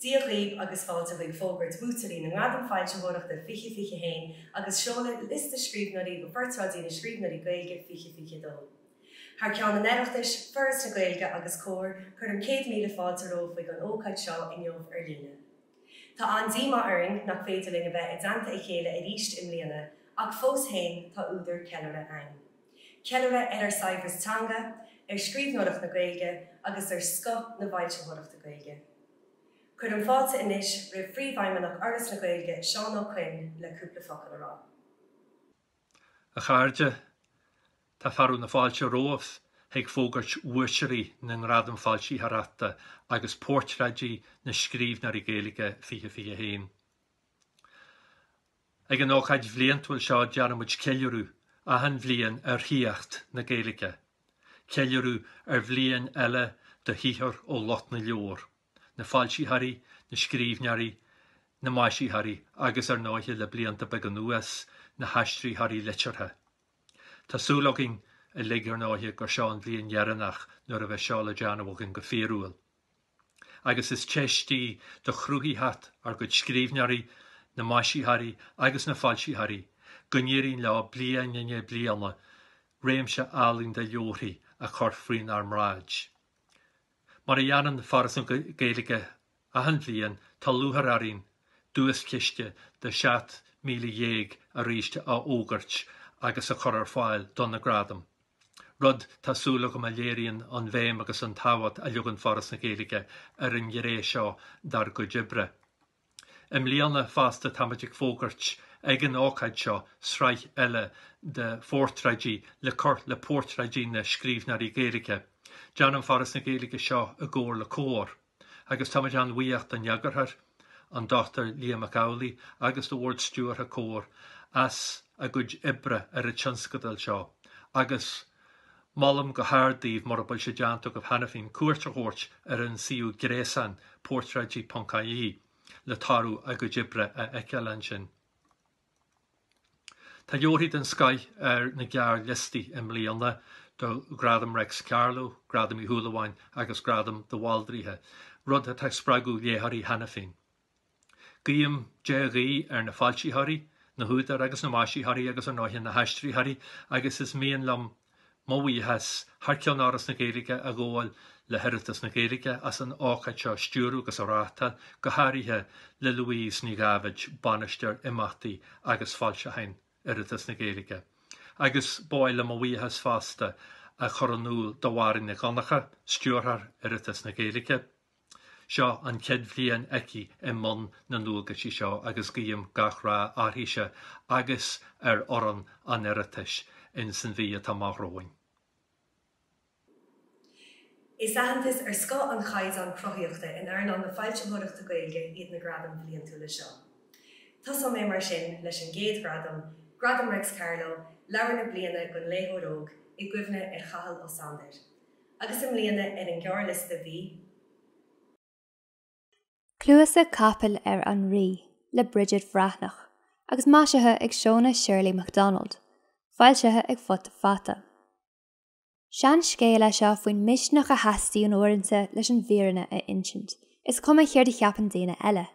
Dia dhaoibh agus fáilte chuig fógairt bhuaiteoirí na nGradam Foilsitheoireachta 2021 agus seoladh liosta scríbhneoirí do Phortráidí na Scríbhneoirí Gaeilge 2022. Thar ceann an Oireachtais, Foras na Gaeilge agus Comhar, cuirim céad míle fáilte romhaibh chuig an ócáid seo inniu ar líne. Tá an-díomá orainn nach féidir linn a bheith i dteannta a chéile arís i mbliana ach fós féin tá údar ceiliúrtha ann. Ceiliúradh ar ár saibhreas teanga, ar scríbhneoireacht na Gaeilge agus ar scoth na bhfoilsitheoireachta Gaeilge. Cuirim fáilte anois roimh Phríomhfheidhmeannach Fhoras na Gaeilge, Seán Ó Coinn le cúpla focal a rá. A chairde, Tá fearadh na fáilte romhaibh chuig fógairt bhuaiteoirí na nGradam Foilsitheoireachta agus Portráidí na Scríbhneoirí Gaeilge 2021. Ag an ócáid bhliantúil seo déanaimid ceiliúradh achan bhliain ar shaíocht na Gaeilge, ceiliúradh ar bhliain eile de shaothar ó lucht na leabhar, na foilsitheoirí, na scríbhneoirí, na maisitheoirí agus, ar ndóighe, le blianta beaga anuas, na haistritheoirí liteartha. Tá súil againn uilig, ar ndóighe, gur seo an bhliain dheireanach nuair a bheas seo le déanamh againn go fíorúil. Agus is teist í do chruthaitheacht ár gcuid scríbhneoirí, na maisitheoirí agus na foilsitheoirí, go n-éiríonn leo bliain i ndiaidh bliana réimse álainn de leabharthaí a chur faoinár mbráid. Mar a dhéanann Foras na Gaeilge Achan bhliain tá lúcháir orainn duaischiste de €17,000 aríst a fhógairt agus a chur ar fáil do na gradaim, rud tá súil agam a léiríonn an bhéim agus an tábhacht a leagann Foras na Gaeilge ar an ngné seo dár gcuid oibre. I mbliana fosta táimid ag fógairt ag an ócáid seo sraith eile de phortráidí le cur le portráidí na scríbhneoirí Gaeilge. Déanann Foras na Gaeilge seo i gcomhar le Comhar. agus táimid an-bhuíoch don eagarthóir, an Dr Liam Mac Amhlaigh agus do Bhord Stiúrtha Comhar as a gcuid oibre ar an tionscadal seo agus molaim go hard daoibh, mura bhfuil sé déanta agaibh cheana féin, cuairt a thabhairt ar an suíomh gréasáin portráidí.ie le toradh a gcuid oibre a fheiceáil ansin. Tá leabharthaí den scoith ar na gearrliostaí i mbliana do Ghradam Reics Carló, Gradam Uí Shúilleabháin agus Gradam de Bhaldraithe, rud atá ag spreagadh léitheoirí cheana féin. Guím dea-ghuí ar na foilsitheoirí, na húdair agus na maisitheoirí agus ar ndóighe na haistritheoirí agus is mian liom Mo bhuíochas thar ceann Fhoras na Gaeilge a ghabháil le hOireachtas na Gaeilge as an ócáid seo a stiúradh agus a reáchtáil, go háirithe le Louise Ní Dháibhéid, Bainisteoir Imeachtaí agus Foilseacháin Oireachtas na Gaeilge, agus ba mhaith liom mo bhuíochas fosta a chur in iúl do Mháirín Nic Dhonnchadha, Stiúrthóir Oireachtas na Gaeilge. Seo an chéad bhliain aici i mbun na ndualgaisí seo agus guím gach rath uirthise agus ar fhoireann an Oireachtais ins an mhí atá amach romhainn. Is aitheantas ar scoth an chaighdeán cruthaíochta in earnáil na foilsitheoireachta Gaeilge iad na gradaim bhliantúla seo. Tosóidh mé mar sin leis an gcéad ghradam, Gradam Reics Carló, Leabhar na Bliana don Léitheoir Óg, i gcuimhne ar Chathal Ó Sándair. Agus i mbliana ar an ghearrliosta bhí. Cluasa Capaill ar an Rí le Bridget Bhreathnach agus maisithe ag Shona Shirley Macdonald, foilsithe ag Futa Fata. Seanscéal é seo faoin misneach a theastaíonn uaireanta leis an bhfírinne a insint, is cuma céard a cheapann daoine eile.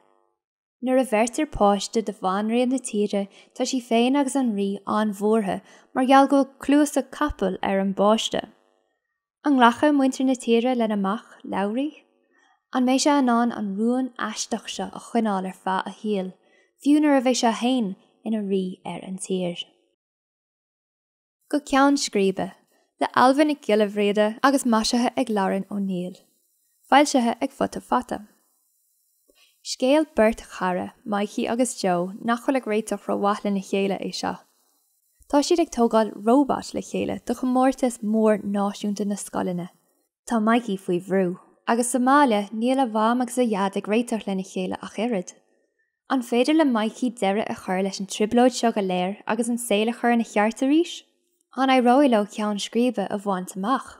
Nuair a bheirtear páiste do bhanríon na tíre tá sí féin agus an rí an-bhuartha mar gheall go bhfuil cluasa capaill ar an bpáiste. An nglacfaidh muintir na tíre lena mac, Labhraí? An mbeidh sé in ann an rún aisteach seo a choinneáil ar feadh a shaoil, fiú nuair a bheidh sé féin ina rí ar an tír? Go Ceann Scríbe, le Ailbhe Nic Giolla Bhríghde agus maisithe ag Lauren O'Neill. Foilsithe ag Futa Fata. Scéal beirt chara, Mikey agus Joe, nach bhfuil ag réiteach rómhaith lena chéile, é seo. Tá siad ag tógáil robot le chéile do chomórtas mór náisiúnta na scoileanna. Tá Mikey faoi bhrú. Agus sa mbaile, níl a mham agus a dhaid ag réiteach lena chéile ach oiread. An féidir le Mikey deireadh a chur leis an trioblóid seo go léir agus an saol a chur ina cheart arís? An éireoidh leo ceann scríbe a bhaint amach?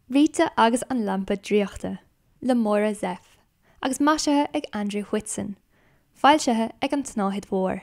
Rita agus an Lampa Draíochta, le Máire Zepf, agus maisithe ag Andrew Whitson, foilsithe ag An tSnáthaid Mhór.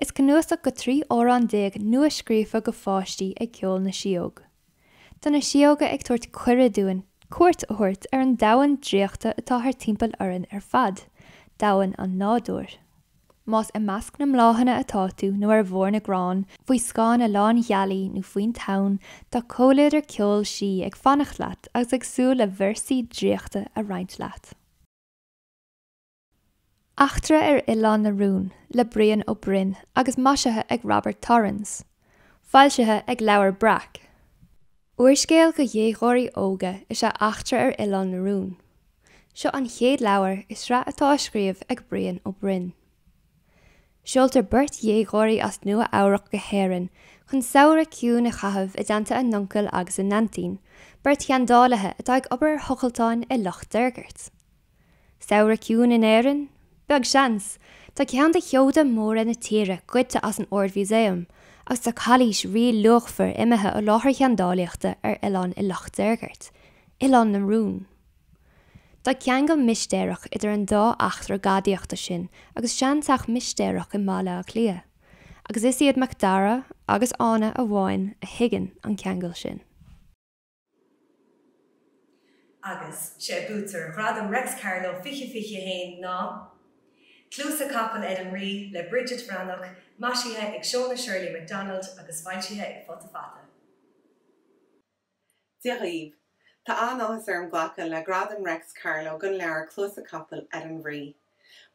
Is cnuasach go 13 amhrán nua scríofa go pháistí é Ceol na Síóg. Tá na síóga ag tabhairt cuireadh dúinn cuairt a thabhairt ar an domhan draíochta atá thart timpeall orainn ar fad, domhan an nádúir. Más i measc na mbláthanna atá tú nó ar bharr na gcrann faoi scáth na lánghealaí nó faoin tonn, tá comhluadar ceoil sí ag fanacht leat agus ag súil le véarsaí draíochta a roinnt leat. Eachtra ar Oileán na Rún le Brian Ó Broin agus maisithe ag Robert Torrans. Foilsithe ag Leabhar Breac. Úrscéal do dhéagóirí óga is ea Eachtra ar Oileán na Rún. Seo an chéad leabhar i sraith atá á scríobh ag Brian Ó Broin. Seoltar beirt dhéagóirí as Nua Eabhrac go hÉirinn chun samhradh ciúin a chaitheamh i dteannta a n-uncail agus a n-aintín, beirt sheandálaithe atá ag obair ar thochaltáin i Loch Deirgeirt. Samhradh ciúin in Éirinn? Beag seans. Tá ceann de sheoda móra na tíre goidte as an Ard-Mhúsaem agus tá cailís ríluachmhar imithe ó láthair sheandálaíochta ar oileán i Loch Deirgeirt, Oileán na Rún. Tá ceangal mistéireach idir an dá eachtra gadaíochta sin agus seanteach mistéireach i mBaile Átha Cliath, agus is iad Macdara agus Áine amháin a thuigeann an ceangal sin. Agus 'sé buaiteoir Ghradam Réics Carló 2021 ná, Cluasa Capaill ar an Rí le Bridget Bhreathnach, maisithe ag Shona Shirley Macdonald agus foilsithe ag Futa Fata. Dia dhaoibh! Tá an-áthas orm glacadh le Gradam Réics Carló don leabhar Cluasa Capaill ar an Rí.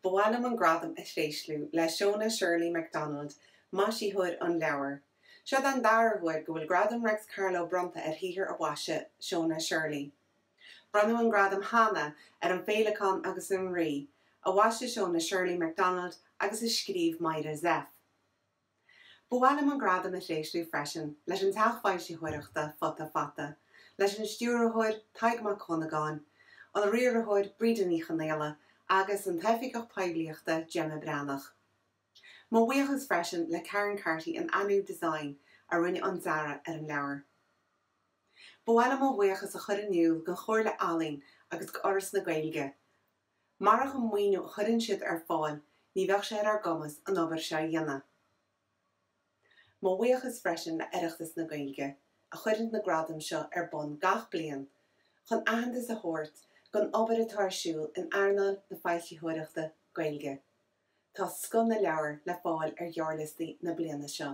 Ba mhaith liom an gradam a thréaslú le Shona Shirley Macdonald, maisitheoir an leabhair. Seo an dara huair go bhfuil Gradam Réics Carló bronnta ar shaothar a mhaisigh Shona Shirley. Bronnadh an gradam cheana ar An Féileacán agus an Rí, a mhaisigh Shona Shirley Macdonald agus a scríobh Máire Zepf. Ba mhaith liom an gradam a thréaslú freisin leis an teach foilsitheoireachta Futa Fata, leis an stiúrthóir, Tadhg Mac Dhonnagáin, an riarthóir, Breda Ní Chonghaile, agus an t-oifigeach poiblíochta, Gemma Breathnach. Mo bhuíochas freisin le Karen Carty in Anú Design a rinne an dearadh ar an leabhar. Ba mhaith liom mo bhuíochas a chur in iúl don Chomhairle Ealaíon agus do Fhoras na Gaeilge, Marach an maoiniú a chuireann siad ar fáil ní bheadh sé ar ár gcumas an obair seo a dhéanamh. Mo bhuíochas freisin le Oireachtas na Gaeilge a chuireann na gradaim seo ar bun gach bliain chun aitheantas a thabhairt don obair atá ar siúl in earnáil na foilsitheoireachta Gaeilge. Tá scoth na leabhar le fáil ar ghearrliostaí na bliana seo.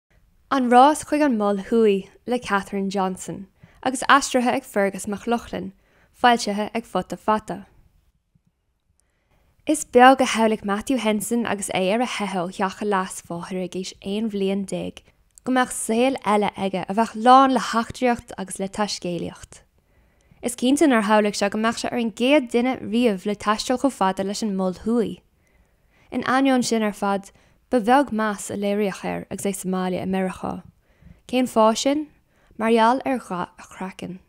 An rás chuig an Mol Thuaidh le Catherine Johnson agus aistrithe ag Fearghas Mac Lochlainn, foilsithe ag Futa Fata. Is beag a shamhlaigh Matthew Henson agus é ar a theitheadh ó theach a leasmháthar ag aois 11 bhliain go mbeadh saol eile aige a bheadh lán le heachtraíocht agus le taiscéalaíocht. Is cinnte nár shamhlaigh sé go mbeadh sé ar an gcéad duine riamh le taisteal chomh fada leis an Mol Thuaidh. In ainneoin sin ar fad, ba bheag meas a léiríodh air agus é sa mbaile i Meiriceá. Cén fáth sin? Mar gheall ar dhath a chraicinn.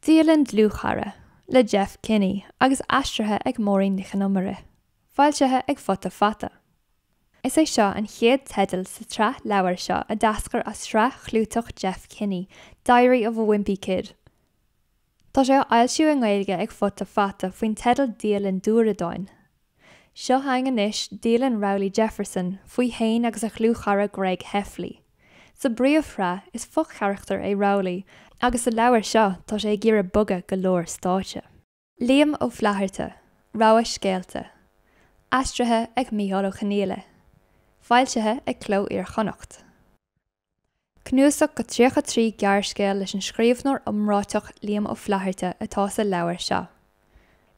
Dialann dlúthchara le Jeff Kinney agus aistrithe ag Máirín Nic Con Iomaire. Foilsithe ag Futa Fata. Is é seo an chéad teideal sa tsraith leabhar seo a d'eascair as sraith chlúiteach Jeff Kinney, Diary of a Wimpy Kid. Tá sé á fhoilsiú i nGaeilge ag Futa Fata faoin teideal Dialann Dúradáin. Seo chugainn anois, Dialann Rowley Jefferson, faoi fhéin agus a dhlúthchara Greg Heffley. Sa bpríomhshraith, is fo-charachtar é Rowley, agus sa leabhar seo, tá sé ag iarraidh bogadh go lár stáitse. Liam Ó Flaithearta, Rogha Scéalta. Aistrithe ag Micheál Ó Conghaile. Foilsithe ag Cló Iar-Chonnacht. Cnuasach de 33 gearrscéal leis an scríbhneoir iomráiteach Liam Ó Flaithearta atá sa leabhar seo.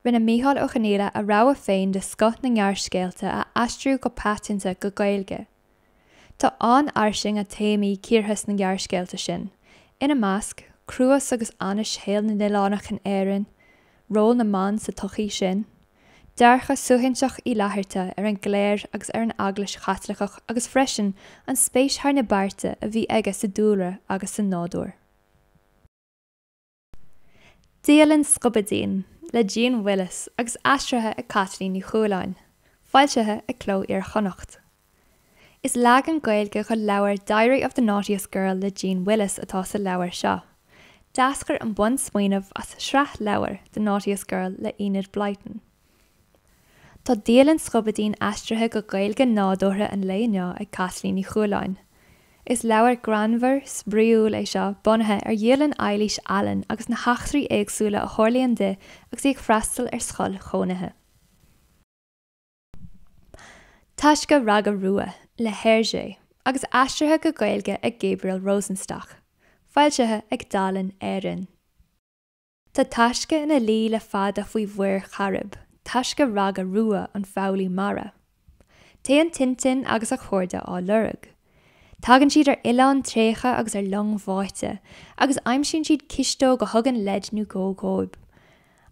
Rinne Micheál Ó Conghaile a rogha féin de scoth na ngearrscéalta a aistriú go paiteanta go Gaeilge. Tá an-fhairsinge téamaí cíortha sna gearrscéalta sin, ina measc, cruas agus ainnise shaol na n-oileánach in Éirinn, Ról na mban sa tsochaí sin. Dearcadh suaithinseach Uí Fhlaithearta ar an gcléir agus ar an Eaglais Chaitliceach agus freisin an spéis thar na bearta a bhí aige sa dúlra agus sa nádúr. Dialann Scubaidín le Jeanne Willis agus aistrithe ag Caitlín Ní Chualáin. Foilsithe ag Cló Iar-Chonnacht. Is leagan Gaeilge dhon leabhar Diary of the Naughtiest Girl le Jeanne Willis atá sa leabhar seo. D'eascair an bunsmaoineamh as sraith leabhar, The Naughtiest Girl le Enid Blyton. Tá Dialann Scubaidín aistrithe go Gaeilge nádúrtha an lae inniu ag Caitlín Ní Chualáin. Is leabhar greannmhar, spraíúil é seo bunaithe ar dhialann Eilís Allen agus na heachtraí éagsúla a tharlaíonn di agus í ag freastal ar scoil chónaithe. Taisce Raga Rua le Hergé agus aistrithe go Gaeilge ag Gabriel Rosenstock, foilsithe ag Dalen Éireann. Tá Taisce ina luí le fada faoi Mhuir Chairib, Taisce Raga Rua an foghlaí mara. Téann Tintin agus a chairde á lorg. Tagann siad ar oileán tréigthe agus ar long bháite, agus aimsíonn siad cisteog a thugann leid nó dhó dhóibh.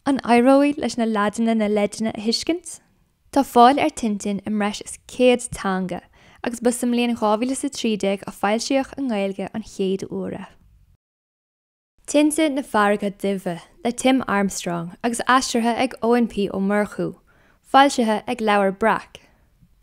An éireoidh leis na leaideanna na leideanna a thuiscint? Tá fáil ar Tintin i mbreis is 100 teanga agus ba sa mbliain 2013 a foilsíodh i nGaeilge an chéad uair é. Tinte na Farraige Duibhe le Tim Armstrong agus aistrithe ag Eoin P. Ó Murchú, foilsithe ag Leabhar Breac.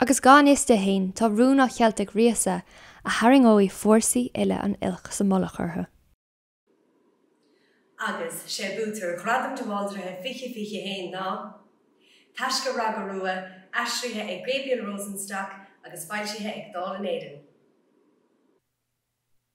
Agus gan fhios dó féin tá rún á cheilt ag Ríosa a tharraingeoidh fórsaí uile an oilc sa mullach orthu. Agus sé buaiteoir Ghradam de Bhaldraithe 2021 ná, Taisce Raga Rua, aistrithe ag Gabriel Rosenstock agus foilsithe ag Dalen Éireann.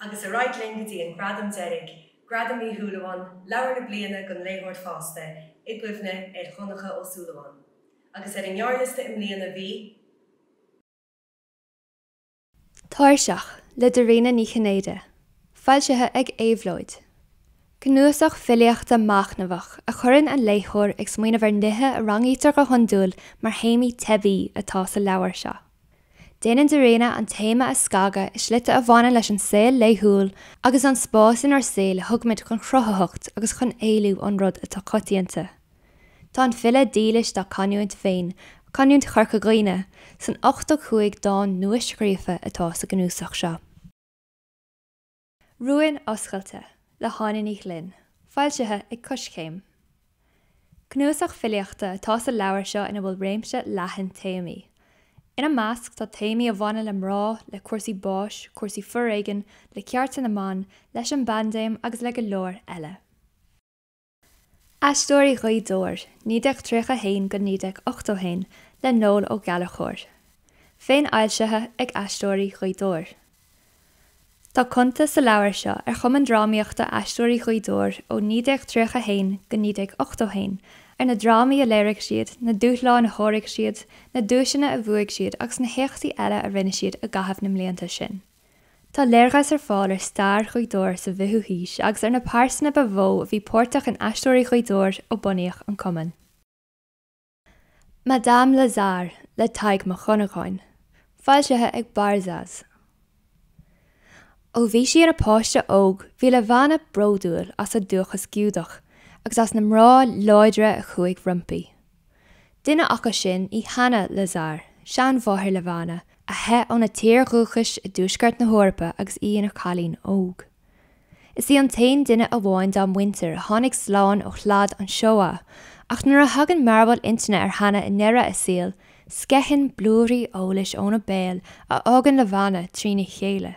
Agus ar aghaidh linn go dtí an gradam deiridh, Gradam Uí Shúilleabháin, Leabhar na Bliana don Léitheoir Fásta, i gcuimhne ar Dhonncha Ó Súilleabháin. Agus ar an ngearrliosta i mbliana bhí. Tairseach le Dairena Ní Chinnéide, foilsithe ag Éabhlóid. Cnuasach filíochta machnamhach a chuireann an léitheoir ag smaoineamh ar nithe a rangaítear go hiondúil mar théamaí teibí atá sa leabhar seo. Déanann Dairena an téama a scagadh i slite a bhaineann leis an saol laethúil agus an spás inár saol a thugaimid chun chruthaitheacht agus chun éalú ón rud atá coitianta. Tá an file dílis dá canúint féin, canúint Chorca Dhuibhne, san 85 dán nua-scríofa atá sa gcnuasach seo. Rúin Oscailte le hÁine Ní Ghlinn, foilsithe ag Coiscéim. Cnuasach filíochta atá sa leabhar seo ina bhfuil réimse leathan téamaí. Ina measc tá téamaí a bhaineann le mná, le cúrsaí báis, cúrsaí foréigin, le cearta na mban, leis an bpaindéim agus le go leor eile. Aisteoirí Ghaoth Dobhair 1931 go 1981 le Noel Ó Gallachóir. Féinfhoilsithe ag Aisteoirí Ghaoth Dobhair. Tá cuntas sa leabhar seo ar Chumann Drámaíochta Aisteoirí Ghaoth Dobhair ó 1931 go 1981, ar na drámaí a léirigh siad, na dúshláin a sháraigh siad, na duaiseanna a bhuaigh siad agus na héachtaí eile a rinne siad i gcaitheamh na mblianta sin. Tá léargas ar fáil ar stair Ghaoth Dobhair sa bhfichiú haois agus ar na pearsana ba mhó a bhí páirteach in Aisteoirí Ghaoth Dobhair ó bunaíodh an cumann. Madame Lazare le Tadhg Mac Dhonnagáin, foilsithe ag Barzaz. Ó bhí sí ina páiste óg bhí Levana bródúil as a dúchas Giúdach agus as na mná láidre a chuaigh roimpi. Duine acu sin í Hana Lazare, seanmháthair Levana, a theith óna tír dhúchais i dtuaisceart na hEorpa agus í ina cailín óg. Is í an t-aon duine amháin dá muintir a tháinig slán ó shlad an Shoah, ach nuair a thagann mearbhall intinne ar Hana i ndeireadh a saoil, sceitheann blúirí eolais óna béal a fhágann Levana trína chéile.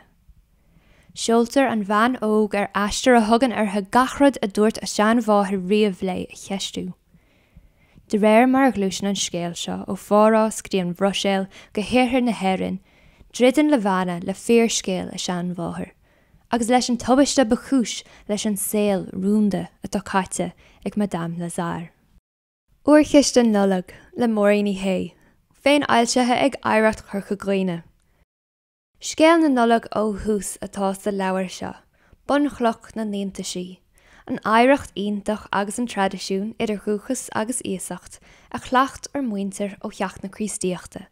Seoltar an bhean óg ar aistear a thugann uirthi gach rud a dúirt a seanmháthair riamh léi a cheistiú. De réir mar a ghluaiseann an scéal seo ó Phárás go dtí an Bhruiséil go hiarthar na hÉireann, druideann Levana le fíorscéal a seanmháthar, agus leis an tubaiste ba chúis leis an saol rúnda atá caite ag Madame Lazare. Órchiste Nollag, le Máirín Uí Shé, féinfhoilsithe ag Oidhreacht Chorca Dhuibhne. Scéal na Nollag ó thús atá sa leabhar seo, bunchloch na n-iontaisí, an oidhreacht iontach agus an traidisiún, idir dhúchas agus iasacht, a chleacht ár muintir ó theacht na Críostaíochta.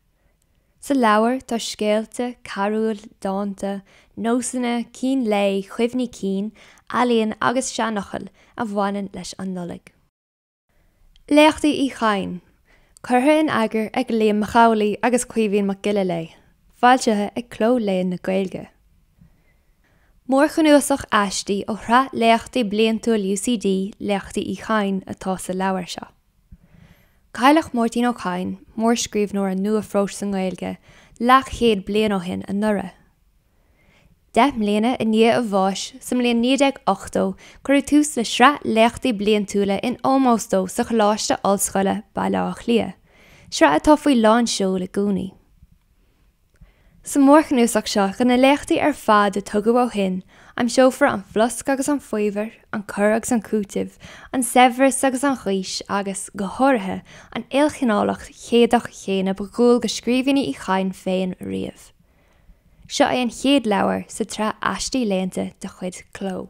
Sa leabhar tá scéalta, carúil, dánta, nósanna, cín lae, cuimhní cinn, ealaíon agus seanfhocail a bhaineann leis an Nollaig. Léachtaí Uí Chadhain. Curtha in eagar ag Liam Mac Amhlaigh agus Caoimhín Mac Giolla Léith. Foilsithe ag CLÓ Léann na Gaeilge. Mórchnuasach aistí ó shraith léachtaí bliantúil UCD, Léachtaí Uí Chadhain, atá sa leabhar seo. Cailleadh Máirtín Ó Cadhain, mórscríbhneoir an nua-phróis sa nGaeilge, leathchéad bliain ó shin anuraidh. Deich mbliana i ndiaidh a bháis, sa mbliain 1980, cuireadh tús le sraith léachtaí bliantúla in ómós dó sa Choláiste Ollscoile, Baile Átha Cliath, sraith atá faoi lán seoil i gcónaí. Sa mhórchnuasach seo de na léachtaí ar fad a tugadh ó shin, aimseofar an flosc agus an faobhar, an cur agus an cúiteamh, an saibhreas agus an ghaois agus, go háirithe, an ilchineálacht cheannann chéanna ba dhual do scríbhinní Uí Chadhain féin riamh. Seo é an chéad leabhar sa tsraith aistí léannta de chuid Chló.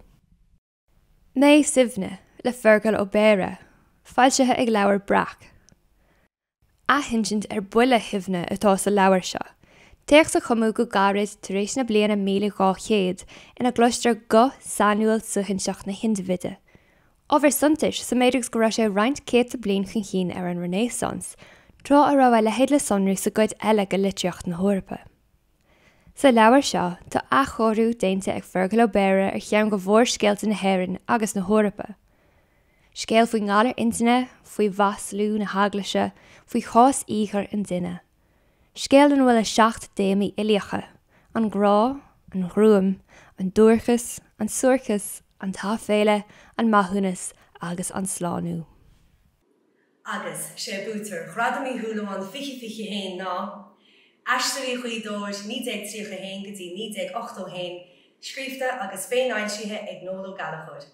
Mé Suibhne, le Feargal Ó Béarra, foilsithe ag Leabhar Breac. Athinsint ar 'Buile Shuibhne' atá sa leabhar seo, téacs a cumadh go gairid tar éis na bliana míle dhá chéad, ina gcloistear guth sainiúil suaithinseach na hindibhide, ábhar suntais sa méid agus go raibh sé roinnt céadta bliain chun cinn ar an Renaissance, tráth a raibh a leithéid le sonrú sa gcuid eile de litríocht na hEorpa. Sa leabhar seo, tá athchóiriú déanta ag Feargal Ó Béarra ar cheann de mhórscéalta na hÉireann agus na hEorpa. Scéal faoin ngalar intinne, faoi mhaslú na hEaglaise, faoi chás íogair an duine. Scéal ina bhfuil na seacht dtéamaí uilíocha, an grá, an ghruaim, an duairceas, an suairceas, an t-aiféala, an maithiúnas agus an slánú. Agus 'sé buaiteoir Ghradam Uí Shúilleabháin 2021 ná, Aisteoirí Ghaoth Dobhair 1931 go dtí 1981, scríofa agus féinfhoilsithe ag Noel Ó Gallchóir.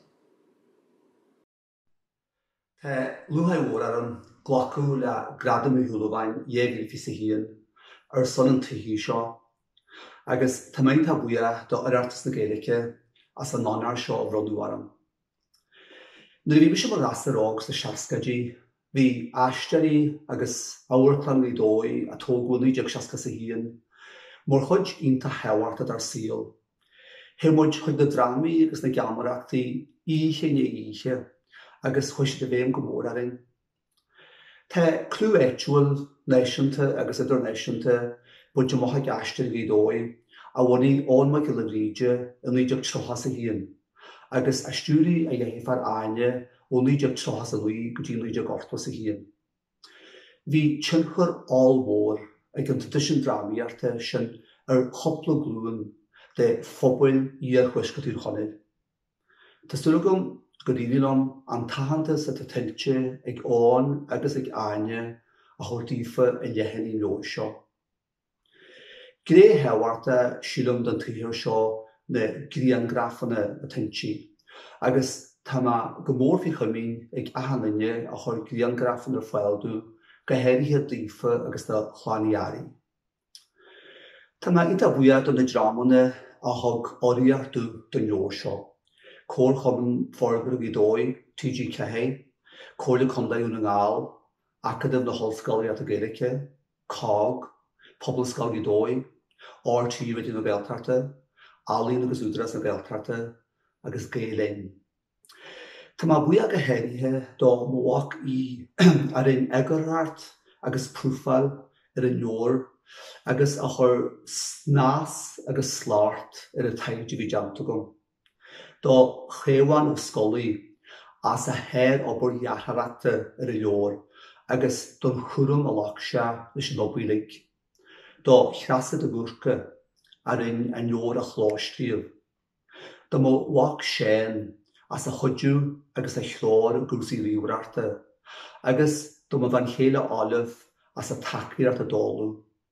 Tá lúcháir mhór orm glacadh le Gradam Uí Shúilleabháin 2021 ar son an tsaothair seo agus tá mé iontach buíoch do Oireachtas na Gaeilge as an onóir seo a bhronnadh orm. Nuair a bhí mise i mo ghasúr óg sna seascáidí, bhí Aisteoirí agus Amharclann Ghaoth Dobhair, a tógadh i 1961, mar chuid iontach thábhachtach dár saol. Théadh muid chuig na drámaí agus na geamaireachtaí oíche i ndiaidh oíche agus chuaigh siad i bhfeidhm go mór orainn. Tá clú áitiúil, náisiúnta agus idirnáisiúnta bainte amach ag Aisteoirí Ghaoth Dobhair, a bhunaigh Eoghan Mac Giolla Bhríde i 1931 agus a stiúraigh a dheirfiúr Áine ó 1939 go dtí 1981. Bhí tionchar ollmhór ag an traidisiún drámaíochta sin ar chúpla glúin de phobal iarthuaisceart Thír Chonaill. Tá súil agam gur éirigh liom an t-aitheantas atá tuillte ag Eoghan agus ag Áine a thabhairt daofa i leathanaigh an leabhair seo. Gné thábhachtach, sílim, den tsaothar seo na grianghrafanna atá inti agus tá mé go mór faoi chomaoin ag achan duine a chuir grianghrafanna ar fáil domh, go háirithe d'Aoife agus do Chlann Uí Fhearraigh. Tá mé iontach buíoch do na dreamanna a thug urraíocht domh don leabhar seo, Comharchumann Forbartha Ghaoth Dobhair, TG4, Comhairle Contae Dhún na nGall, Acadamh na hOllscolaíochta Gaeilge, COGG, Pobalscoil Ghaoth Dobhair, RTÉ Raidió na Gaeltachta, Ealaín agus Údarás na Gaeltachta agus Gael Linn. Tá mé buíoch go háirithe do mo mhac Aodh a rinne eagarthóireacht agus profáil ar an leabhar agus a chuir snas agus slacht ar an taighde a bhí déanta agam. do Chaomhán Ó Scolaí as a shár-obair dhearthóireachta ar an leabhar agus don chúram a ghlac sé leis an obair uilig, do Threasa de Búrca a rinne an leabhar a chlóscríobh, do mo mhac Séan as a chuidiú agus a threoir i gcúrsaí ríomhaireachta, agus do mo bhean chéile Olive as a tacaíocht i dtólamh.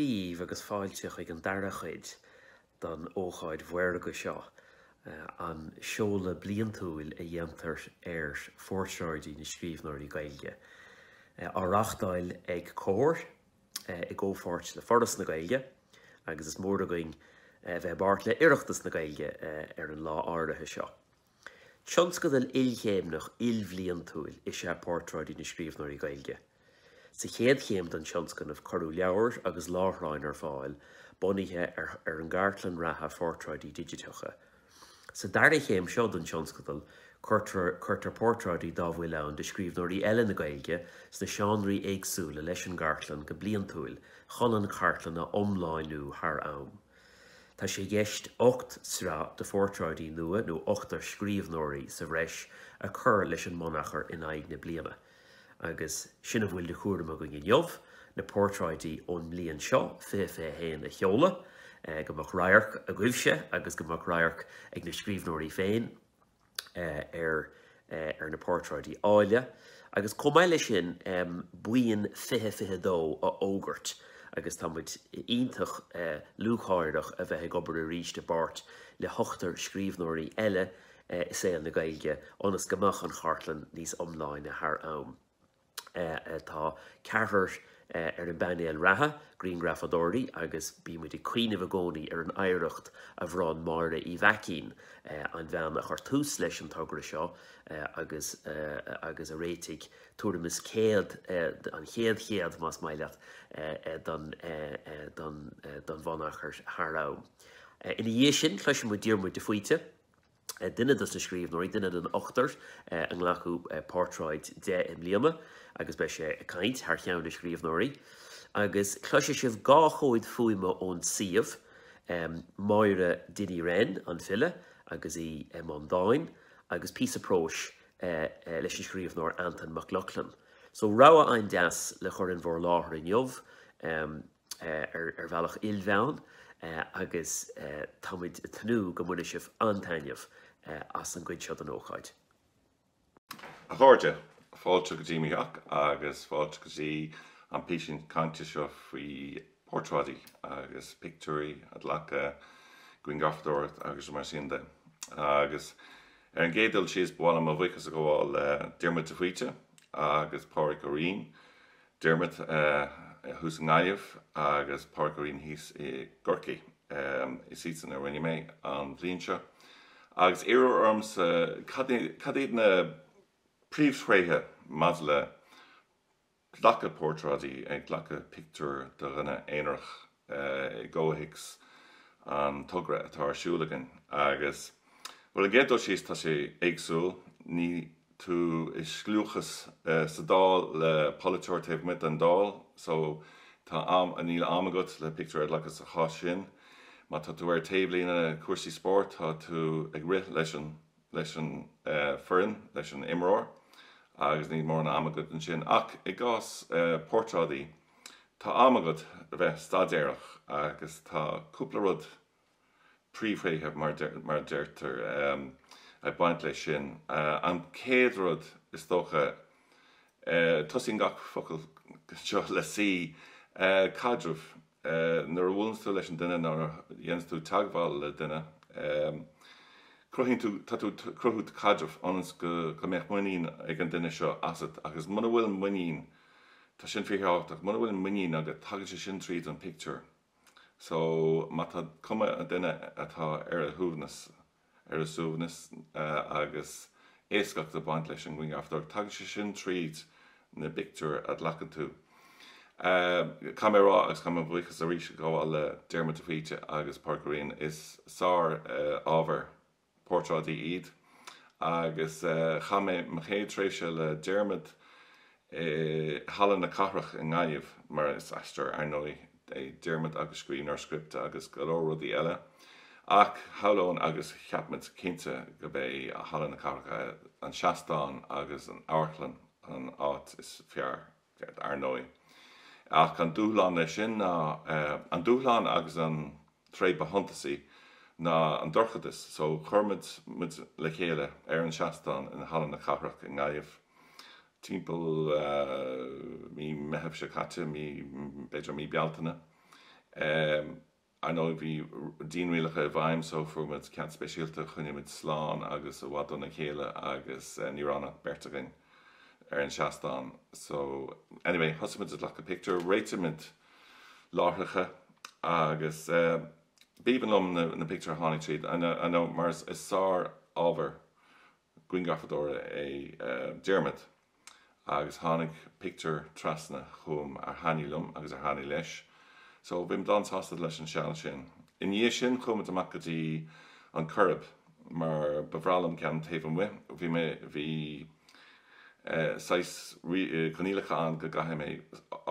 díbh agus fáilte chuig an dara chuid don ócáid mhaorga seo, an seoladh bliantúil a dhéantar ar Phortráidí na Scríbhneoirí Gaeilge. Á reáchtáil ag Comhar i gcomhpháirt le Foras na Gaeilge agus is mór againn a bheith i bpáirt le Oireachtas na Gaeilge ar an lá áirithe seo. Tionscadal ilchéimneach ilbhliantúil is ea Portráidí na Scríbhneoirí Gaeilge. Sa chéad chéim den tionscnamh cuireadh leabhair agus láithreáin ar fáil bunaithe ar an gcartlann reatha phortráidí digiteacha. Sa dara chéim seo den tionscadal cuirtear portráidí dá bhfuil ann de scríbhneoirí eile na Gaeilge sna seánraí éagsúla leis an gcartlann go bliantúil chun an chartlann a iomláinniú thar am. Tá sé i gceist ocht sraith de phortráidí nua nó ochtar scríbhneoirí sa bhreis a chur leis an mbunachar in aghaidh na bliana. Agus sin a bhfuil de chúram againn inniu, na portráidí ón mbliain seo 2021 a sheoladh. Go mbeadh radharc agaibhse agus go mbeadh radharc ag na scríbhneoirí féin. ar ar na portráidí áille agus chomh maith leis sin buíon 20 22 a fhógairt agus tá muid iontach lúcháireach a bheith ag obair arís i bpáirt le hochtar scríbhneoirí eile i saol na Gaeilge ionas go mbeidh an chartlann níos iomláine thar am. Tá ceathrar ar an bpainéal reatha, grianghrafadóirí, agus bímid ag cuimhneamh i gcónaí ar an oidhreacht a bhronn Máire Uí Mhaicín, an bhean a chuir tús leis an togra seo agus a réitigh tuairim is 100, an chéad 100 más maith leat, den bhunachar thar am. Ina dhiaidh sin, cloisfimid Diarmuid de Faoite, duine dos na scríbhneoirí, duine den ochtar ar glacadh portráid de i mbliana agus beidh sé ag caint thar cheann na scríbhneoirí agus cloisfidh sibh dhá chomhad fuaime ón suíomh, Máire Dinny Wren, an file, agus í i mbun dáin agus píosa próis leis an scríbhneoir Antain Mac Lochlainn. So rogha an-deas le chur in bhur láthair inniu. ar bhealach ilmheáin agus táimid ag tnúth go mbainfidh sibh an-taitneamh as an gcuid seo den ócáid. A chairde, fáilte go dtí mo theach agus fáilte go dtí an písín cainte seo faoi portráidí agus pictiúirí a ghlacadh, grianghrafadóireacht agus mar sin de. Agus ar an gcéad dul síos, ba mhaith liom mo bhuíochas a ghabháil le Diarmuid de Faoite agus Pádraig Ó Riain Diarmuid thuas i nGaillimh agus Pádraig Ó Riain thíos i gCorcaigh. Is iadsan a rinne mé an bhliain seo agus iarradh ormsa cad iad na príomhthréithe maidir le glacadh portráidí, ag glacadh pictiúr de dhuine aonarach. i gcomhthéacs an togra atá ar siúl againn agus bhuel ar an gcéad dul síos tá sé éagsúil, níl tú i scliúchas sa Dáil le polaiteoir taobh amuigh den Dáil so tá am, níl am agat le pictiúr a ghlacadh sa chás sin. Má tá tú ar taobhlíne cúrsaí spóirt tá tú ag rith leis an leis an foireann, leis an imreoir agus níl mórán ama agat ansin. Ach i gcás portráidí, tá am agat a bheith staidéarach agus tá cúpla rud, príomhthréithe mar a deirtear, ag baint leis sin. An chéad rud, is dócha, tosaíonn gach focal seo le C, caidreamh. ii, Nuair a bhuaileanns tú leis an duine nó nuair a dhéananns tú teagmháil le duine, ii, cruthaíonn tú, tá tú ag cruthú caidrimh ionas go mbeadh muinín ag an duine seo asat agus muna bhfuil muinín, tá sin fíorthábhachtach, muna bhfuil muinín agat tagann sé sin tríd an bpictiúr. So má tá cuma an duine atá ar a shuaimhneas. ar a suaimhneas agus éascacht ag baint leis an ngrianghrafadóireacht. Tagann sé sin tríd na pictiúir a ghlacann tú. Caithfidh mé a rá, agus caithfidh mo bhuíochas arís a ghabháil le Diarmuid de Faoite agus Pádraic Ó Riain, is sár-ábhar portráidí iad agus chaith mé mo chéad tréimhse le Diarmuid i Halla na Cathrach i nGaillimh, mar is aisteoir, ar ndóigh, é Diarmuid agus scríbhneoir scripte agus go leor rudaí eile, ach shamhlófá agus cheap muid cinnte gurbh é Halla na Cathrach an seastán agus an amharclann an áit is fearr, ar ndóigh. Ach an dúshlán leis sin ná, an dúshlán agus an tréith ba shuntasaí ná an dorchadas, só chuir muid muid le chéile ar an seastán i Halla na Cathrach i nGaillimh. timpeall mí Meitheamh seo caite, mí, b'fhéidir mí Bealtaine. I know bhí dianrialacha i bhfeidhm so fuair muid cead speisialta, choinnigh muid slán agus i bhfad óna chéile agus ní raibh ach beirt againn ar an seastán so anyway thosaigh muid ag glacadh pictiúir, réitigh muid láithreacha agus b'aoibhinn liom na pictiúir a tháinig tríd, I know mar is sár-ábhar grianghrafadóra é Diarmuid agus tháinig pictiúir trasna chugam a thaitnigh liom agus a thaitnigh leis so bhí muid an-sásta leis an seal sin. I ndiaidh sin chuaigh muid amach go dtí an Choirib mar ba bhreá liom ceann taobh amuigh bhí mé, bhí saghas coinníollacha ann go gcaithfidh mé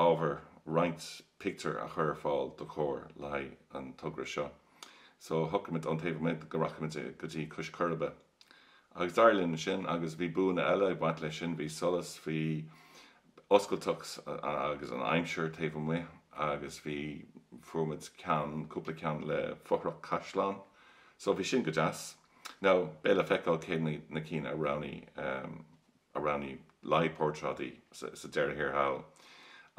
ábhar, roinnt pictiúr a chur ar fáil do Chomhar le haghaidh an togra seo so shocraigh muid ón taobh amuigh go rachadh muid go dtí Cois Coiribe. Agus dár ndóigh ansin agus bhí buanna eile ag baint leis sin, bhí solas, bhí oscailteacht agus an aimsir taobh amuigh agus bhí, fuair muid ceann, cúpla ceann le fothrach caisleáin so bhí sin go deas. Now, beidh le feiceáil cé na cinn a roghnaigh, a roghnaigh le haghaidh Portráidí sa deireadh thiar thall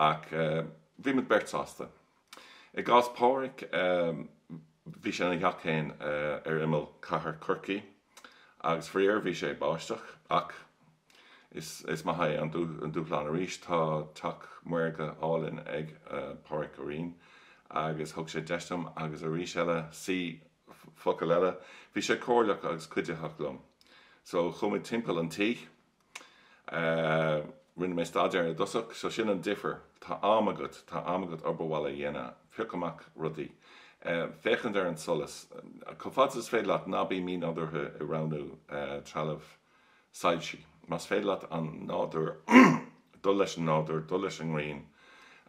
ach bhí muid beirt sásta. I gcás Pháraic, bhí sé ina theach féin ar imeall chathair Chorcaí agus faraor bhí sé ag báisteach ach is maith é an dúshlán arís. Tá teach maorga álainn ag Páraic Ó Riain agus thug sé deis dom agus arís eile, see focal eile, bhí sé comhairleach agus cuiditheach liom. So, chuaigh muid timpeall an tí. Eh, rinne mé staidéar i dtosach so sin an difear. Tá am agat, tá am agat obair bhaile a dhéanamh, piocadh amach rudaí. Eh, féachaint ar an solas. Chomh fada is féidir leat, ná bí mínádúrtha i roghnú trealamh soilsí. Más féidir leat an nádúr, dul leis an nádúr, dul leis an ngrian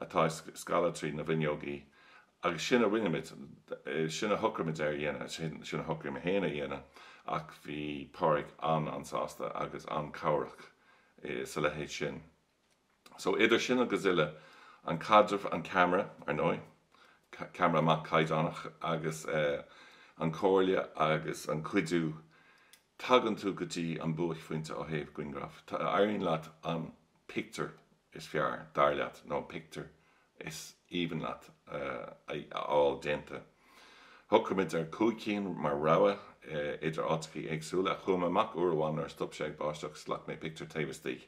atá ag scalladh trí na bhfuinneogaí Agus sin a rinne muid, sin a shocraigh muid ar a dhéanamh, sin a shocraigh mé féin a dhéanamh ach bhí Páraic an-an-sásta agus an-chabhrach sa leithéid sin. So idir sin agus uile, an caidreamh, an ceamara, ar ndóigh, ceamara maith caighdeánach agus an chomhairle agus an cuidiú tagann tú go dtí an buaicphointe ó thaobh grianghraf, éiríonn leat an pictiúr is fearr, dar leat, nó an pictiúr is aoibhinn leat a fháil déanta. Shocraigh muid ar chúig cinn mar rogha idir áiteachaí éagsúla chuaigh muid amach uair amháin nuair a stop sé ag báisteach, ghlac mé pictiúr taobh istigh.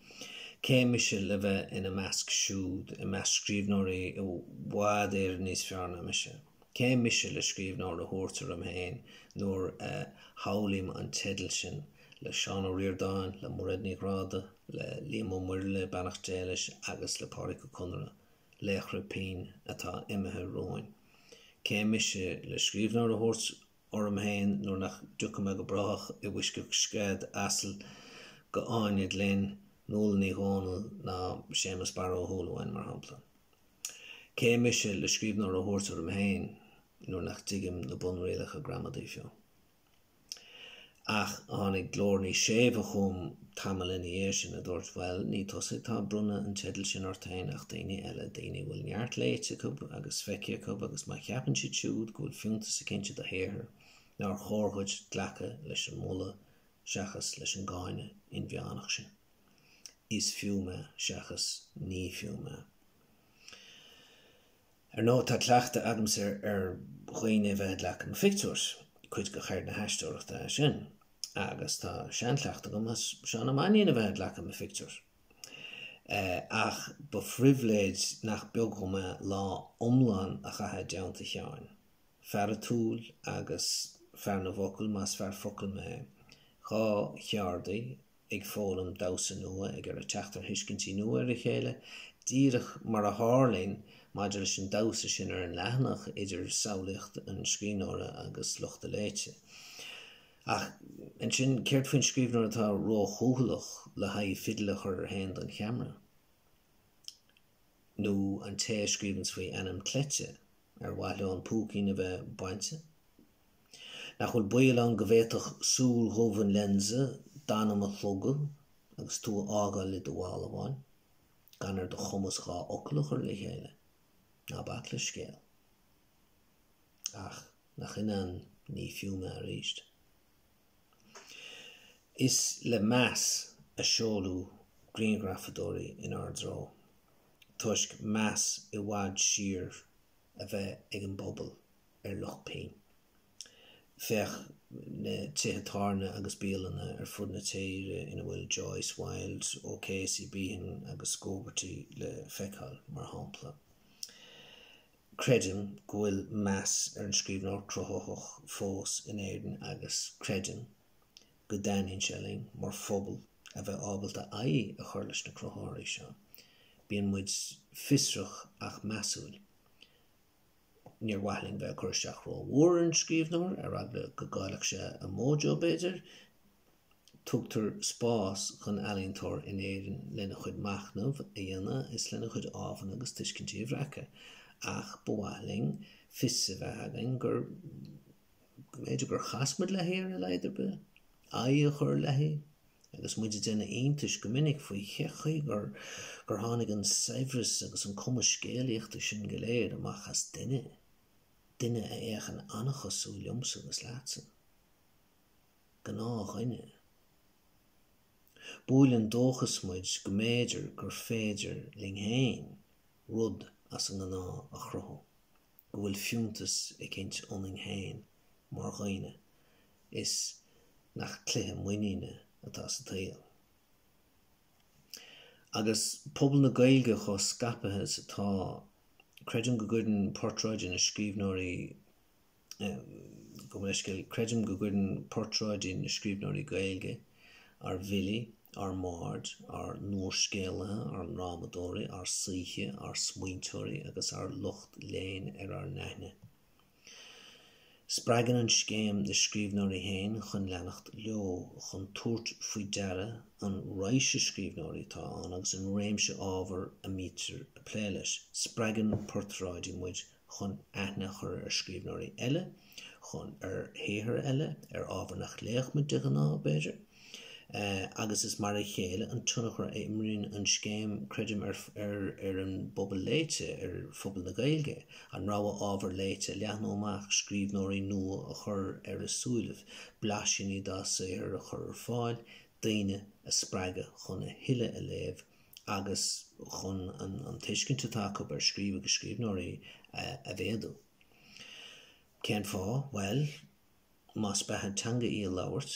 Cé mise le bheith ina measc siúd, i measc scríbhneoirí i bhfad Éireann níos fearr ná mise? Cé mise le scríbhneoir a thabhairt orm féin nuair a shamhlaím an teideal sin le Seán Ó Ríordáin, le Mairéad Ní Ghráda, le Liam Ó Muirthile, beannacht Dé leis, agus le Páraic Ó Conaire, laochra pinn atá imithe romhainn? Cé mise le scríbhneoir a thabhairt orm fhéin nuair nach dtiocfaidh mé go brách i bhfoisceacht scread asail go Áine Ní Ghlinn, Nuala Ní Dhomhnaill ná Séamus Barra Ó Súilleabháin mar shampla. Cé mise le scríbhneoir a thabhairt orm fhéin nuair nach dtuigim na bunrialacha gramadaí fiú? Ach tháinig glór níos séimhe chugam tamall ina dhiaidh sin a dúirt, Bhuel, ní tusa atá ag bronnadh an teidil sin ort féin ach daoine eile, daoine a bhfuil neart léite acu agus feicthe acu agus má cheapann siad siúd go bhfuil fiúntas eicínt i do shaothar, nár chóir dhuit glacadh leis an moladh seachas leis an gcáineadh inmheánach sin? Is fiú mé seachas ní fiú mé. Ar ndóigh, tá cleachtadh agamsa ar dhaoine a bheith ag glacadh mo phictiúir, cuid de cheird na haisteoireachta é sin, agus tá seanchleachtadh ag mo Sheán Ó Mainnín a bheith ag glacadh mo phictiúir. Ach ba phribhléid nach beag dhom é lá iomlán a chaitheamh i dteannta Sheáin. Fear atiúil agus fear na bhfocal, más fear focal mé. Dhá cheardaí, ag foghlaim damhsa nua, ag ar a teacht ar thuiscintí nua ar a chéile, díreach mar a tharlaíonn maidir leis an damhsa sin ar an leathanach idir samhlaíocht an scríbhneora agus lucht a léite. Ach, ansin, céard faoin scríbhneoir atá róchúthaileach le aghaidh fidil a chur air héin don cheamara? Nó an té a scríobhanns faoi ainm cleite? Ar mhaith leo an púicín a bheith bainte? Nach bhfuil baol ann go bhféadfadh súil dhomhain an lionsa d'anam a shlogadh agus tú a fhágáil i do bhalbháin, gan ar do chumas dhá fhocal a chur le chéile? Ná bac le scéal. Ach nach in é an ní fiú mé arís? Is le meas a seoladh grianghrafadóirí inár dtreo, toisc meas i bhfad siar a bheith ag an bpobal ar lucht pinn. Féach na tithe tábhairne agus bialanna ar fud na tíre ina bhfuil Joyce, Wilde, O'Casey, Behan agus Gogarty le feiceáil, mar shampla. Creidim go bhfuil meas ar an scríbhneoir cruthaitheach fós in Éirinn agus creidim go dtaitníonn sé linn mar phobal a bheith ábalta aghaidh a chur leis na cruthaitheoirí seo. Bíonn muid fiosrach ach measúil. Níor mhaith linn bheith ag cur isteach rómhór ar an scríbhneoir, ar eagla go gcaillfeadh sé a mojo, b'fhéidir. tugtar spás dhon ealaíontóir in Éirinn lena chuid machnaimh a dhéanamh is lena chuid amhrán agus tuiscintí a bhreacadh, ach ba mhaith linn fios a bheith againn gur, go mb'fhéidir gur chas muid léi ar a laghad ar bith, aghaidh a chur léi, agus muid ag déanamh iontais go minic faoi cén chaoi gur tháinig an saibhreas agus an cumas scéalaíochta sin go léir amach as duine, duine a fhéachann an-chosúil liomsa agus leatsa. gnáthdhuine. Buaileann dóchas muid go mb'fhéidir gur féidir linn féin rud as an ngnáth a chruthú, go bhfuil fiúntas eicínt ionainn féin mar dhaoine is nach cluiche muiníne atá sa tsaol. Agus pobal na Gaeilge chomh scaipthe is atá, creidim go gcuireann portráidí na scríbhneoirí Gabh mo leithscéal, creidim go gcuireann portráidí na scríbhneoirí Gaeilge, ár bhfilí, ár mbaird, ár n-úrscéalaithe, ár ndrámadóirí, ár saoithe, ár smaointeoirí agus ár lucht léinn ar ár n-aithne. Spreagann an scéim na scríbhneoirí féin chun leanacht leo, chun tabhairt faoi deara an raidhse scríbhneoirí atá ann agus an réimse ábhar a mbítear ag plé leis. Spreagann portráidí muid chun aithne a chur ar scríbhneoirí eile, chun ar shaothair eile, ar ábhar nach léifeadh muid de ghnáth, b'fhéidir. Agus is mar a chéile an tionchar a imríonn an scéim, creidim, ar an bpobal léite, ar phobal na Gaeilge, an rogha ábhar léite a leathnú amach, scríbhneoirí nua a chur ar a súilibh, blaisíní dá saothar a chur ar fáil, daoine a spreagadh chun a thuilleadh a léamh. agus chun an tuiscint atá acu ar scríobh agus scríbhneoirí a mhéadú. Cén fáth? Bhuel, más beatha teanga í a labhairt,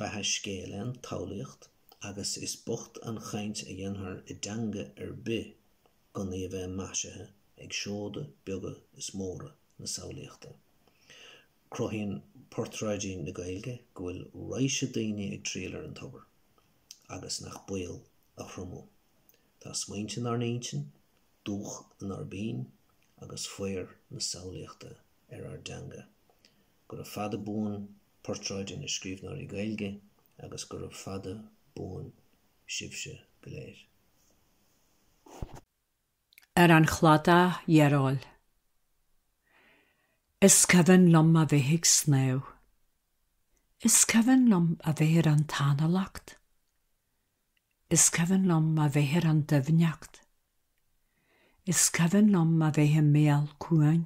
beatha scéil an tsamhlaíocht agus is bocht an chaint a dhéanfar i dteanga ar bith gan í a bheith maisithe ag seoda beaga is móra na samhlaíochta. Cruthaíonn Portráidí na Gaeilge go bhfuil raidhse daoine ag triall ar an tobar. agus nach baol a thriomú. Tá smaointe inár n-intinn, dúch inár bpinn agus faobhar na samhlaíochta ar ár dteanga. Gura fada buan Portráidí na Scríbhneoirí Gaeilge agus gura fada buan sibhse go léir. ar an chladach dhearóil. Is cuimhin liom a bheith ag snámh. Is cuimhin liom a bheith ar an tanalacht. Is cuimhin liom a bheith ar an doimhneacht. Is cuimhin liom a bheith i mbéal cuain.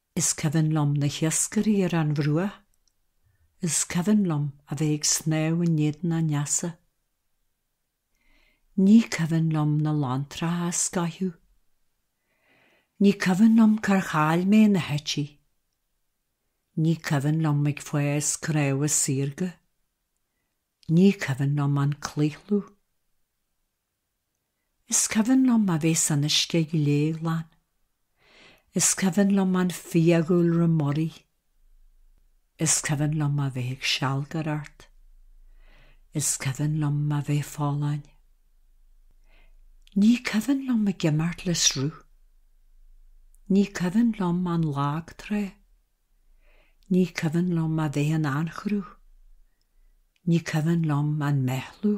Is cuimhin liom na hiascairí ar an bhruach. Is cuimhin liom a bheith ag snámh in éadan an easa. Ní cuimhin liom na lanntracha a scoitheadh. Ní cuimhin liom cár chaill mé na heití. Ní cuimhin liom ag fás cnámha saorga. Ní cuimhin liom an claochlú. Is cuimhin liom a bheith san uisce gléghlan. Is cuimhin liom an fiadhúlra muirí. Is cuimhin liom a bheith ag sealgaireacht. Is cuimhin liom a bheith folláin. Ní cuimhin liom ag imirt le sruth. Ní cuimhin liom an lag trá. Ní cuimhin liom a bheith in anchruth. Ní cuimhin liom an meathlú.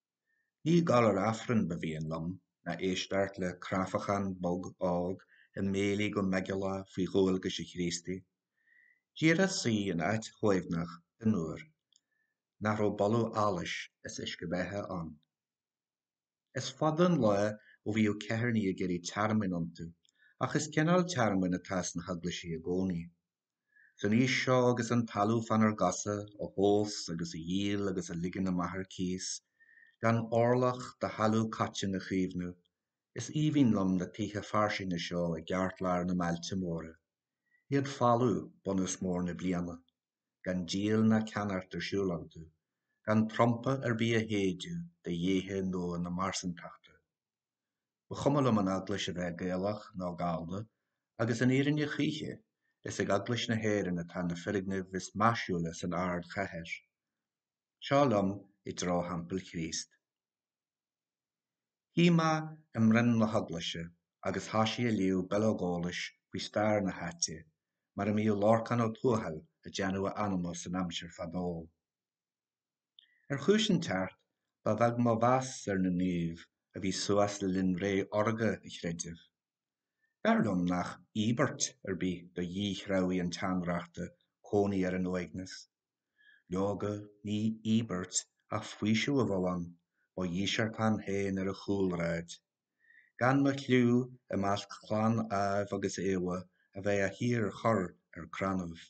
Ní gabháil ar Aifreann ba mhian liom ná éisteacht le cráifeachán bog óg ag méiligh go meigeallach faoi dhualgais an Chríostaí. Díreach suí in áit shuaimhneach fhionnuar nach raibh boladh allais is uisce beatha ann. Is fada an lá ó bhíodh ceithearnaigh ag iarraidh tearmainn iontu, ach is cineál tearmainn atá sna heaglaisí i gcónaí. San aois seo agus an talamh fánár gcosa á thomhas agus á dhíol agus á ligean amach ar cíos, gan orlach de thalamh coiteann a chaomhnú, is aoibhinn liom na tithe fairsinge seo i gceartlár na mbailte móra. Iad folamh bunús mór na bliana. Gan díol ná ceannacht ar siúl iontu. Gan trumpa ar bith á shéideadh do dhéithe nua na marsantachta. Ba chuma liom an eaglais a bheith Gaelach nó Gallda agus an fhírinne choíche, is ag Eaglais na hÉireann atá na foirgnimh is maisiúla san ardchathair. Seo liom i dtreo Theampall Chríost. Shuigh mé i mbroinn na heaglaise agus thoisigh ag léamh bileog eolais faoi stair na háite, mar a mbíodh Lorcán Ó Tuathail ag déanamh a anama san aimsir fadó. Ar chúis inteacht, ba bheag mo mheas ar na naoimh a bhí suas le linn ré órga an chreidimh. Dar liom nach íobairt ar bith do dhíthreabhaigh an tseanreachta cónaí ar an uaigneas. Leoga, ní íobairt ach faoiseamh a bheadh ann, mo dhíseartán féin ar an chúlráid. Gan mo chliú i measc chlann Ádhaimh agus Éabha a bheith á shíorchur ar crannaibh.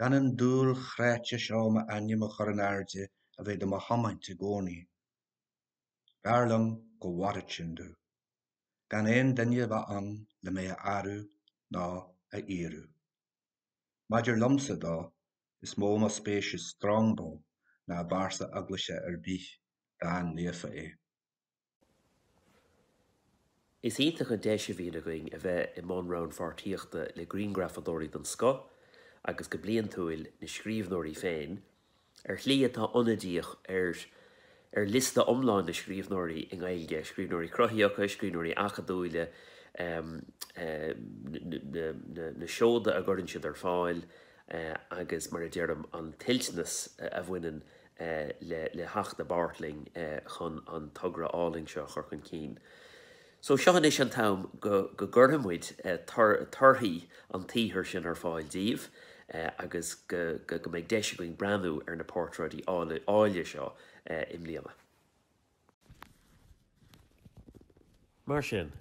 Gan an dúil chráite seo m'ainm a chur in airde a bheith do mo thiomáint i gcónaí. Dar liom go bhfóirfeadh sin domh. Gan aon duine a bheith ann le mé a adhradh ná a aoradh. Maidir liomsa dó, is mó mo spéis i Strongbow ná i bpearsa eaglaise ar bith, dá naofa é. Is iontach an deis a bhíonn againn a bheith i mbun rannpháirtíochta le grianghrafadóirí den scoth agus go bliantúil na scríbhneoirí féin, ar shlí atá ionadaíoch ar ar liosta iomlán na scríbhneoirí i nGaeilge, scríbhneoirí cruthaitheacha, scríbhneoirí acadúile, na seoda a gcuireann siad ar fáil agus, mar a deirim, an toilteanas a bhaineann le le theacht i bpáirt linn chun an togra álainn seo a chur chun cinn. So seo anois an t-am go go gcuirfidh muid torthaí an tsaothair sin ar fáil daoibh agus go go go mbeidh deis againn breathnú ar na portráidí áille seo i mbliana. Mar sin,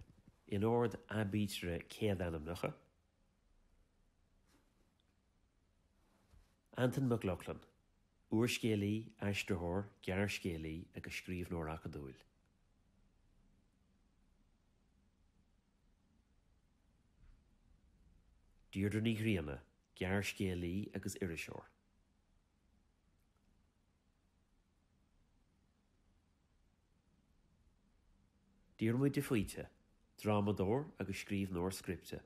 in ord aibítre céadainmneacha. Antain Mac Lochlainn, úrscéalaí, aistritheoir, gearrscéalaí agus scríbhneoir acadúil. Deirdre Ní Ghrianna, gearrscéalaí agus iriseoir. Diarmuid de Faoite, drámadóir agus scríbhneoir scripte.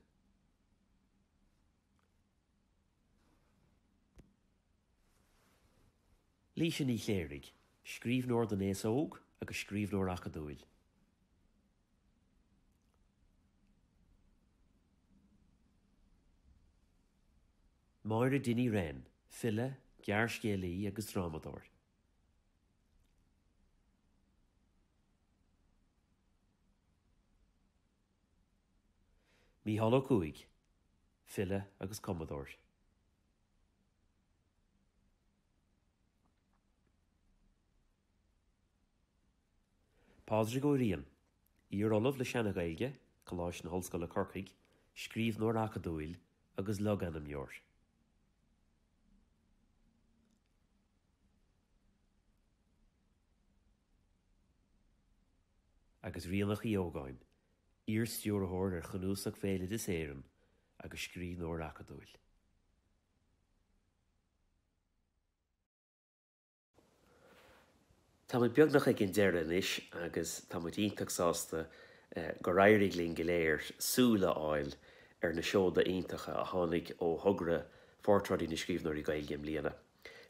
Laoise Ní Chléirigh, scríbhneoir don aos óg agus scríbhneoir acadúil. Máire Dinny Wren, file, gearrscéalaí agus drámadóir. Mícheál Ó Cuaig, file agus cumadóir. Pádraig Ó Riain, iar-ollamh le Seana-Ghaeilge, Coláiste na hOllscoile Corcaigh, scríbhneoir acadúil agus logainmneoir. agus Ríonach Uí Ógáin, iar-Stiúrthóir ar Chnuasach Bhéaloideas Éireann agus scríbhneoir acadúil. Tá muid beagnach ag an deireadh anois agus tá muid iontach sásta gur éirigh linn go léir súil a fháil ar na seoda iontacha a tháinig ó thogra Phortráidí na Scríbhneoirí Gaeilge i mbliana.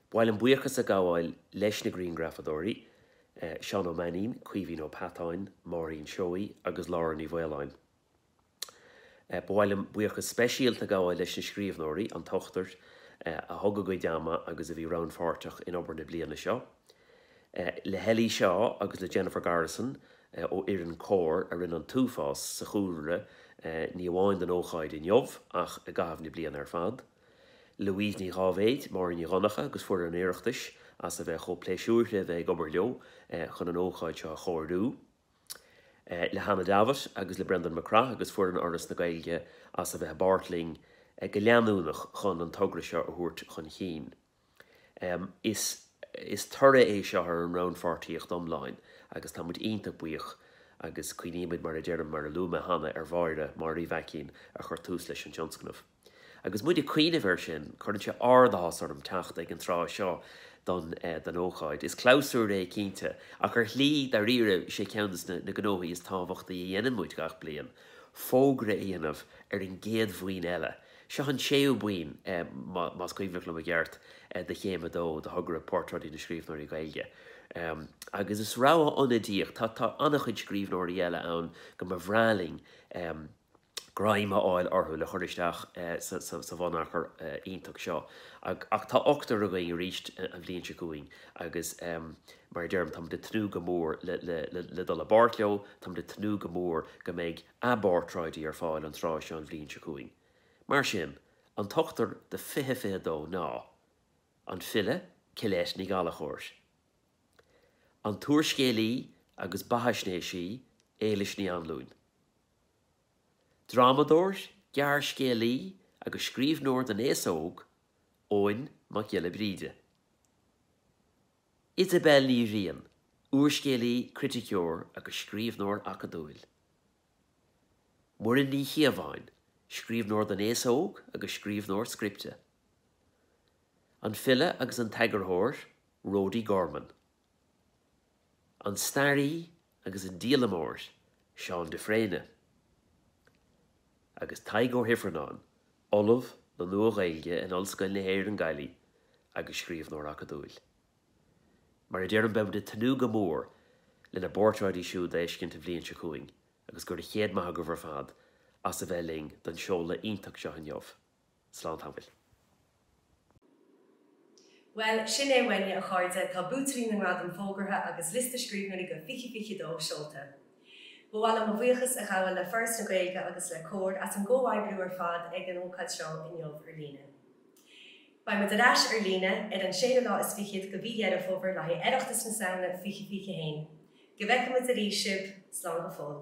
Ba mhaith liom buíochas a ghabháil leis na grianghrafadóirí, Seán Ó Mainnín, Caoimhín Ó Peatáin, Máirín Seoighe agus Lára Ní Mhaoláin. Ba mhaith liom buíochas speisialta a ghabháil leis na scríbhneoirí, an t-ochtar, a thug a gcuid ama agus a bhí rannpháirteach in obair na bliana seo, le hEllie Shaw agus le Jennifer Garrison ó fhoireann Comhar a rinne an t-uafás sa chúlra ní amháin don ócáid inniu ach i gcaitheamh na bliana ar fad. Louise Ní Dháibhéid, Máirín Nic Dhonnchadha agus foireann an Oireachtais as a bheith chomh pléisiúrtha a bheith ag obair leo chun an ócáid seo a chóiriú. Le Hannah Davitt agus le Breandán Mac Craith agus foireann Fhoras na Gaeilge as a bheith i bpáirt linn go leanúnach chun an togra seo a thabhairt chun cinn. Is is toradh é seo ar an rannpháirtíocht iomlán agus tá muid iontach buíoch agus cuimhnímid mar a deirim mar a luaigh mé cheana ar Mháire, Máire Uí Mhaicín, a chuir tús leis an tionscnamh. Agus muid ag cuimhneamh air sin, cuireann sé ard-áthas orm teacht ag an tráth seo don don ócáid. Is clabhsúr é cinnte, ach ar shlí, dairíre, is é ceann de na gnóthaí is tábhachtaí a dhéanann muid gach bliain, fógra a dhéanamh ar an gcéad bhuíon eile. Seo an séú bliain, más cuimhneach liom i gceart, de Chéim a Dó de thogra Portráidí na Scríbhneoirí Gaeilge agus is rogha ionadaíoch, tá an-chuid scríbhneoirí eile ann go mba bhreá linn greim a fháil orthu le cur isteach sa bhunachar iontach seo, ach tá ochtar againn arís an bhliain seo chugainn agus mar a deirim, táimid ag tnúth go mór le dul i bpáirt leo, táimid ag tnúth go mór go mbeidh. a bportráidí ar fáil an tráth seo an bhliain seo chugainn. Mar sin, an t-ochtar do 2022 ná, An file Colette Ní Ghallchóir, an t-úrscéalaí agus beathaisnéisí Éilís Ní Anluain, drámadóir, gearrscéalaí agus scríbhneoir don aos óg Eoghan Mac Giolla Bhríde. Isobel Ní Riain, úrscéalaí, criticeoir agus scríbhneoir acadúil. Muireann Ní Chíobháin, scríbhneoir don aos óg agus scríbhneoir scripte. An file agus an t-eagarthóir Rody Gorman. An staraí agus an díolamóir Seán de Fréine, agus Tadhg Ó hIfearnáin, Ollamh le Nua-Ghaeilge in Ollscoil na hÉireann Gaillimh agus scríbhneoir acadúil. Mar a deirim, beimid ag tnúth go mór lena bportráidí siúd a fheiscint an bhliain seo chugainn agus gura céad maith agaibh ar fad as a bheith linn don seoladh iontach seo inniu. Bhuel, sin é uainne, a chairde, tá buaiteoirí na ngradam fógartha agus liosta scríbhneoirí do 2022 seolta. Ba mhaith liom mo bhuíochas a ghabháil le Foras na Gaeilge agus le Comhar as an gcomhoibriú ar fad ag an ócáid seo inniu ar líne. Beidh muid ar ais ar líne ar an séú lá is fichead de mhí Dheireadh Fómhair le haghaidh Oireachtas na Samhna 2021. Go bhfeicfidh muid arís sibh! Slán go fóill.